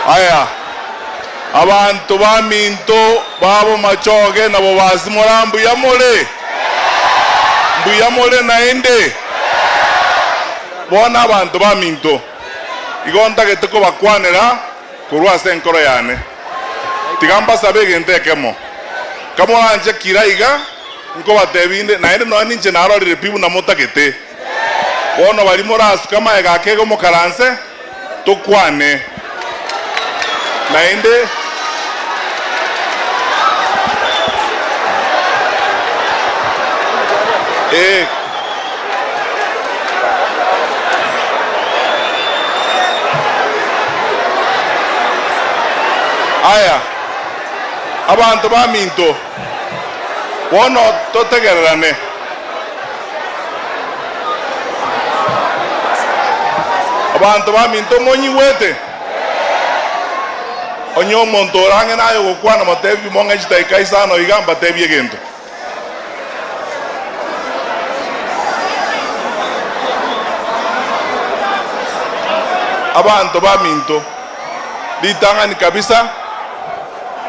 Aya, abanto baminto babo machoge na bobasi mora mbuya more? Mbuya more naende? Bono abanto baminto igo ntagete kobakwanera. korwa ase enkoro yane, tiga mbasabe egento ekemo. Kamoranchekire aiga, nkobatebia inde, naende nonya ninche narorire pi buna motagete. Bono baria morasuke amaega ake iga mokaranse, tokwane. Naende ee. Aya, abanto baminto, bono totegererane. Abanto baminto, monyigwete? Onye omonto ore ang'e naye ogokwana, motebie, Mong'e chitai Kaisar noyo iga mbatebie egento. Abanto baminto, ritang'ani kabisa,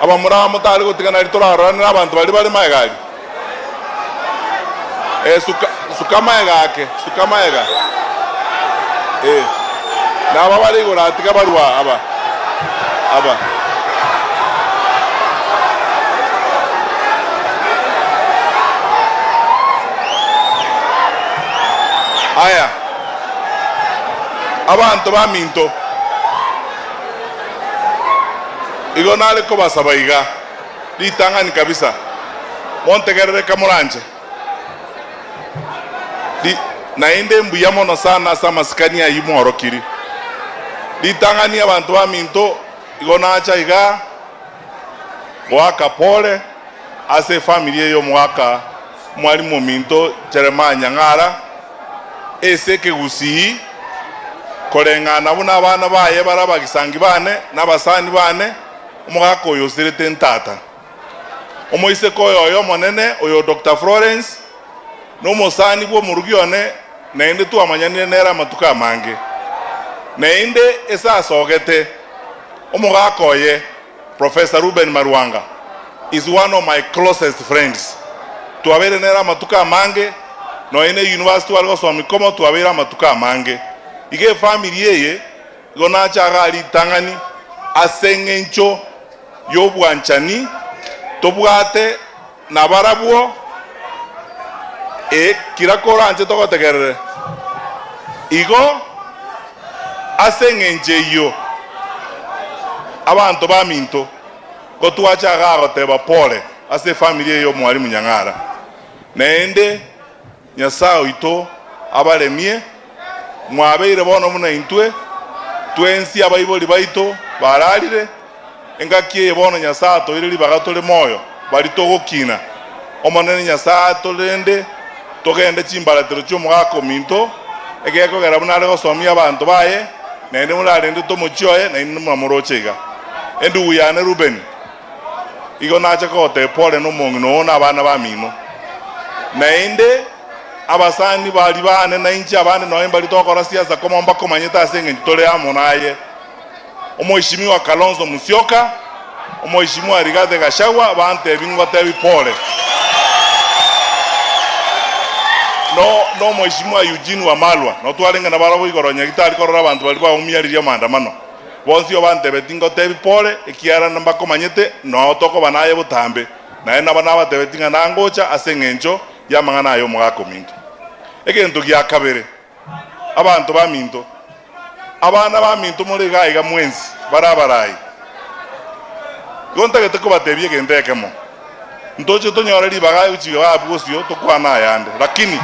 abamura aba motare gotigana ritorarorane nabanto baria bare magega aria. Esuka. Suka amagega ake, suka amagega. Ee, naba bare igoro aa, tiga barue aa, aba, aba. Aya, abanto baminto, igo nare kobasaba iga, ritang'ani kabisa. Montegerere kamoranche. Ri- Naende mbuya mono sana ase amasikani ayio mworokiri. Ritang'ani abanto baminto igo nacha iga goaka pole ase efamiri eye omogaka mwarimu ominto Jeremiah Nyang'ara ase ekegusii koreng'ana buna abana baye bare abagisangi bane na abasani bane omogaka oyo osirete ntata. Omoiseke oyo oye omonene, oyo Doctor Florence, nomosani bw'omoruki one, naende twamanyanire nere amatuko amange. Naende ase asogete, omogaka oye, Professor Reuben Maruanga, is one of my closest friends. Twabeire nere amatuko amange, nonya ne university are gosoma ikomo twabeire amatuko amange. Iga efamiri eye. Igo nachaga ritang'ani ase engencho y'obwanchani tobwate nabarabwo, ee, kira koranche togotegerere. Igo ase engencho eyio abanto baminto gotwachaga goteba pole ase efamiri eye y'omwarimu Nyang'ara, naende. Nyasae oito abaremie, mwabeire bono buna intwe twensi abaibori baito bararire. Engaki eye bono Nyasae atoeire ribaga tore moyo, baria togokina Omonene Nyasae aito rende togende chimbaratero chi'omogaka ominto, egekogera buna are gosomia abanto baye, naende morarendete omochie oye, nainwe muna moroche iga. Endugu yane Rubeni. igo nache kogoteeba ore nomong'ina oo nabana bamino. Naende abasani baria baane nainche abande nonya mbari togokora siasa koma mbakomanyete ase eng'encho tore amo naye. Omoheshimiwa Kalonzo Musyoka, Omoheshimiwa Rigathi Gachagua bantebi ngotebi pore. No nomoheshimiwa Eugene Wamalwa notwarenge nabarabwo igoro nyagetari korora abanto baria baumia riria maandamano. Bonsi obantebe tingotebi pore, ekiagera mbakomanyete nao tokoba naye botambe, naende nabo nabatebeti ng'a nangocha ase engencho y'amang'ana aya omogaka ominto. Egento gia kabere, abanto baminto, abana baminto more iga iga mwensi bare abarai, igo ntagete kobatebia egento ekemo. ntoche tonyore ribaga aye gochika baabwo bosio tokwane ayande. Lakini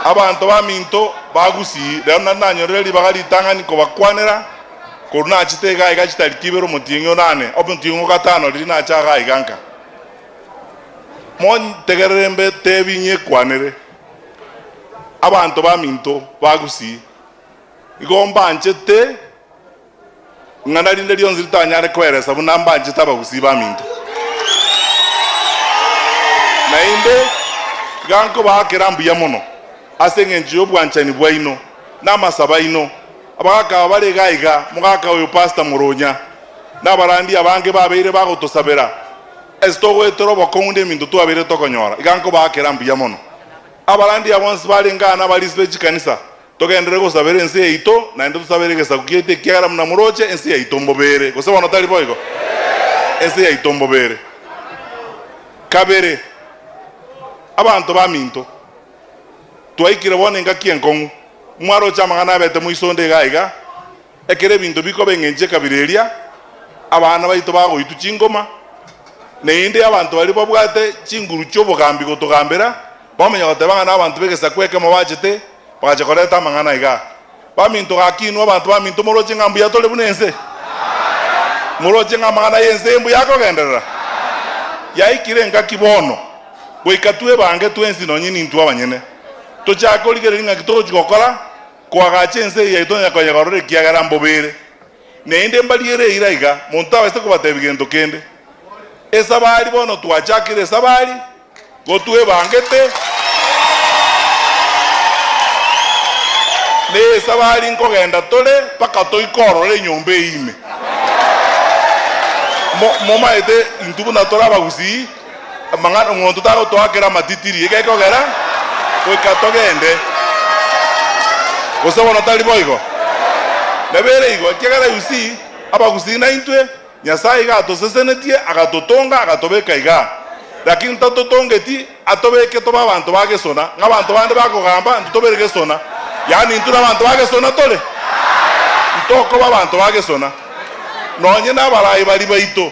abanto baminto bagusii, rero naende nanyorire ribaga ritang'ani kobakwanera, korwa nachete iga aiga chitari tibere omotieng'e o nane, omotieng'e o gatano riria nache aga aiga nka. Montegerere mbe tebi ng'e kwanere abanto baminto bagusii, igo mbanchete. ing'ana rinde rionsi ritanyare kweresa buna mbanchete abagusii baminto. Naende iga nkobaa kera mbuya mono ase engencho y'obwanchani bwaino na amasabo aino, abagaka aba bare iga iga, mogaka oyo Pastor Murunya, na abarandia abange babeire bagotosabera ase togoetera obokong'u neminto twabeire tokonyora. Iga nkobaa kera mbuya mono abarandia bonsi barenge aa na abarisi be chikanisa. Togenderere gosabera ense yaito, naende tosabere egesaku kiaito, ekiagera buna moroche ense yaito mbobere. Gose bono tari boigo? Ense yaito mbobere. Kabere, abanto baminto, twaikire bono engaki enkong'u, mwaroche amang'ana abete moiso onde iga iga, Ekero ebinto bikoba eng'encho ekabira eria, abana baito bagoitwa chingoma, naende abanto baria babwate chinguru chi'obogambi gotogambera, bamanya goteba ng'a nabanto b'egesaku ekemo bachete, bagacha koreta amang'ana aiga, Baminto, gaki inwe abanto baminto moroche ng'a mbuya tore buna ense? Moroche ng'a amang'ana y'ense mbuya akogenderera? Yaikire ngaki bono, goika twebange twensi nonye nintwe abanyene, tochake korigereria ng'aki togochia gokora, Koagacha ense eye tonyare koyegorora ekiagera mbobe ere, naende mbariere eira iga, monto tabaiseti kobatebia gento kende. Esabari bono twachakire esabari, gotwebangete, na esabari nkogenda tore mpaka toike ororo enyomba eye ime. Mo, momaete intwe buna tore abagusii. Amang'ana omonto tagotoakera amatitiri egekogera goika togende, gose bono tari boigo? Nebiere igo, ekiagera Yusi abagusii naintwe, Nyasae iga atosesenetie, agatotonga, agatobeka iga. Lakini tatotongeti atobeke tobe abanto ba gesona, ng'a abanto bande bakogamba, intwe tobere gesona, yaani intwe nabanto ba gesona tore? Intokoba abanto ba gesona, nonye nabaraai baria baito.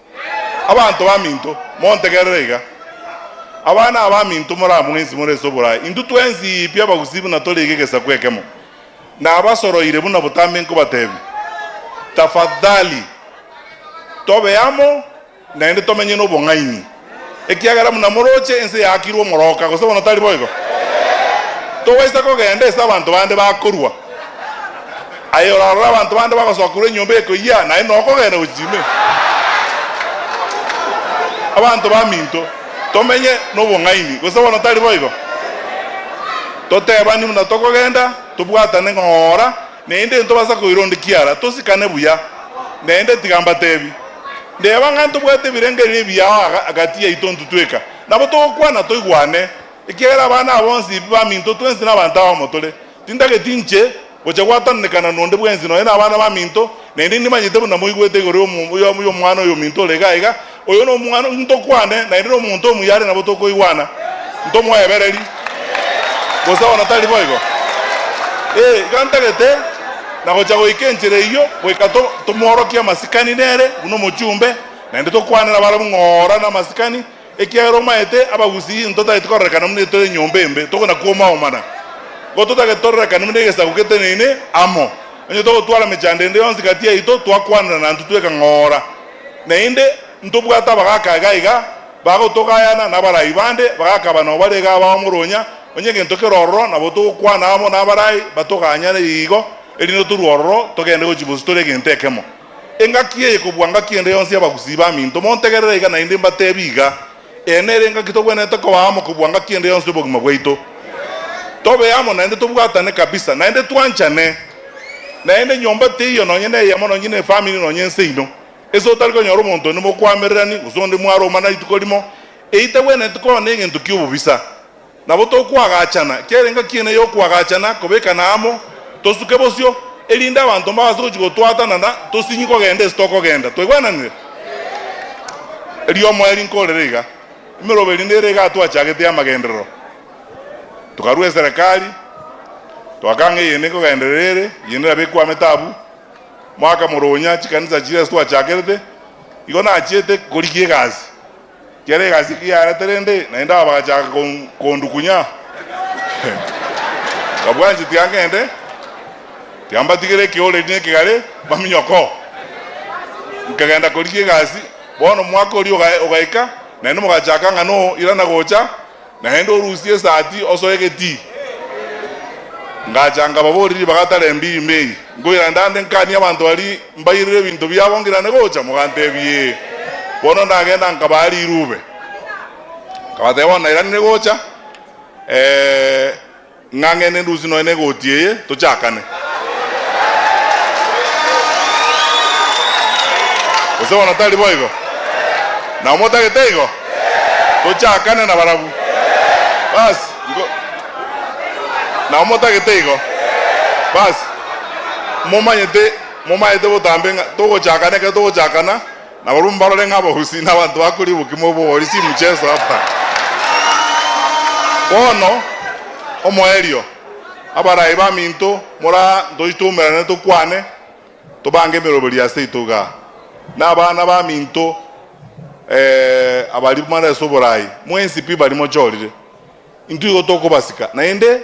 Abanto baminto, montegerere iga. Abana abaminto moraa mwensi more ase oboraai, intwe twensi pi abagusii buna tori iga egesaku ekemo. Nabasoroire buna botambe nkobateebia, Tafadhali tobe amo naende tomenye nobong'aini. ekiagera buna moroche ense yaakirwe omoroka, gose bono tari boigo? Tobaisa kogenda ase abanto bande bakorua. Aye orarore abanto bande bagosokerwa enyomba ekoyia, naye nokogenda gochia ime? Abanto baminto, tomenye nobong'aini, gose bono tari boigo? Totebani buna tokogenda, tobwatane ng'ora. naende ntobasa koira onde kiara, tosikane buya. Naende tiga mbatebi, ndeba ng'a ntobwate ebirengererio ebiya agati yaito ntitweka, nabo togokwana toigwane, ekiagera abana aba bonsi baminto twensi nabanto abamo tore. Tintageti inche gocha gwatananekana nonde bwensi, nonya nabana baminto, naende nimanyete buna moigwete igoro y'omwana oyominto ore iga iga, Oyo nomwana oyio ntokwane, naende nomonto omuya are nabo tokoigwana, ntomoebereri, gose ona tari boigo? Ee, iga ntagete, na gocha goika enchera eyio, goika tomoorokie amasikani nere buna omochumbe, naende tokwane nabarabwo ng'a oora namasikani, ekiagera omaete abagusii intwe tageti kororekana buna etore enyomba embe, tokonakuomaomana, ko totageti tororekane buna egesaku geteneine amo, onye togotwara mechando ende yonsi gati yaito, twakwanera nantwe tweka ng'a oora. Naende ntobwate abagaaka iga iga bagotogayana n'abarai bande, bagakaba nao bare iga abamoronya, onye egento kere ororo nabo togokwana amo n'abarai batoganyane igo, erinde torue ororo togende gochia bosio tore egento ekemo. Engaki eye kobua ngaki ende yonsi y'abagusii baminto, montegerere iga naende mbateebie iga. Eeno, ere ngaki togwenerete kobaa amo kobua ngaki ende yonsi y'obogima bwaito. Tobe amo naende tobwatane kabisa, naende twanchane. Naende nyomba teiyo nonye neyemo, nonye nefamiri, nonye ense ino, ase otari konyora omonto onde mokwamererani, gose onde mwaromana rituko rimo, eyio tagwenereti koba negento ki'obobisa. Nabo tokwagachana, ekerengeo kiane y'okwagachana kobekana amo, tosuke bosio, erinde abanto mbabase gochia gotwatana na tosinyie kogenda ase tokogenda. Twaigwananire? Erio omoyo rinkorere iga, emerogo eri nere igaa twachagete y'amagenderero. Tokarua eserekari, twakanga eyende nkogenderera ere, eyende nabo ekwamete abwo. Mwaka moronya chikanisa chiria ase twachakerete, igo nachiete korigia egasi. Kera egasi ki yarete rende naende aba agachaaka kondukunya. Babwanche tiangende, tiambatigere ekeoreri ne ekegare, baminyoko. Nkagenda korigia egasi. Bono omwaka oria ogaika, naende mogachaaka ng'a no irana gocha, Naende orusie esati osoe egetii. Ngacha nkababoria ribaga tarembi ime eye, nkoirane ndande nkanie abanto baria mbairire ebinto biabo ngirane gocha? Mogantebia, Ee. Bono ndagenda nkabaa rirube. Nkabateba, Bono nairanire gocha, ee. Ng'a ng'ende ndusie nonya negoti eye tochakane. Gose bono tari boigo? Nao motagete igo? Tochakane nabarabwo. Basi, nko. Nao motagete igo? Basi, momanyete, momaete botambe ng'a togochakana, ekero togochakana, Nabarabwo mbarore ng'a abagusii na abanto bakoria obokima obo ore chimucheso apa. Bono, omoerio, abarai baminto, mora ntochi twaumerane tokwane, tobange emeroberi aseito igaa. Na abana baminto, eeh, abaria mare ase oborai, mwensi pi baria mochorire, intwe igo tokobasika, naende.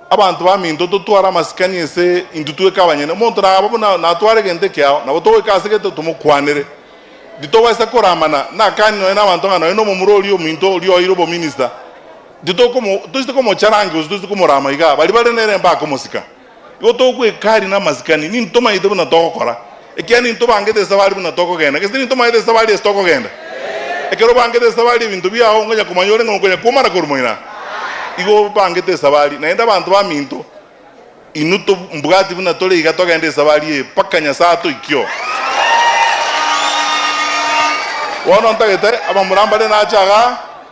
Abanto baminto totware amasikani ase intwe tweka abanyene. Omonto naba buna natware egento ekiao, nabo togoika ase gete tomokwanere. Titobaisa koramana nakani nonya nabanto ng'a nonya nomomura oria ominto oria oeire obominista. Titokomo toiseti komocharangia gose toiseti komorama igaa. Baria bare nere mbakomosika. Igo togoika aria namasikani. Ninto tomaete buna togokora. Ekiagera ninto bangete ase abare buna tokogenda, gese ninto maete ase abare ase tokogenda. Ekero obangete ase abare ebinto biao onkonya komanya ore ng'a onkonya kwomana korwa moira. Igo obangete ase abare. Naende abanto baminto, inwe tob mbwati buna tore iga togende ase abare ee mpaka Nyasae atoikie oo. Bono ntagete abamura mbare nache agaa.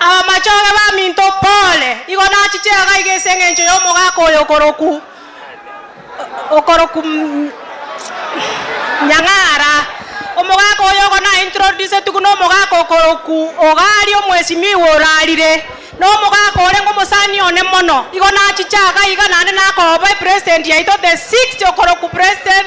Abamachore baminto, pole! Igo nachiche iga iga ase engencho y'omogaka oyo okoroku okoroku Nyang'ara. Omogaka oyo igo na introducetigu na omogaka okoroku Ogari omwesimigwa orarire, na omogaka orenge omosani one mono. Igo nachiche iga iga naende nakoba epresident yaito the sixth okoroku president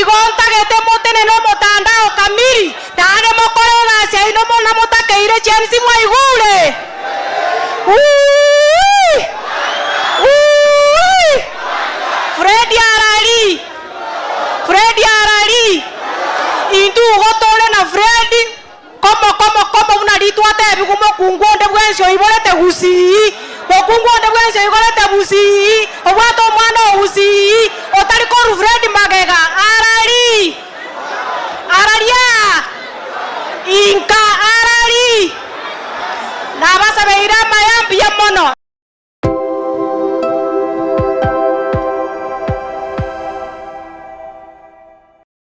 Igo ntagete motenene omotanda o Kamiri, naende mokore egasi yaino buna motakeire James mwaigure. Wuuii! Wuuii! Freddy arari! Freddy arari! Intwe igo tore na Freddy Komoko mokomo buna ritwatebigwe mokungu onde bwensi oiborete gusii, mokungu onde bwensi oikorete busii, obwate omwana oo busii, otari korwa Fred magega, arari, araria, inka, arari. Nabasabeire amaya mbuya mono.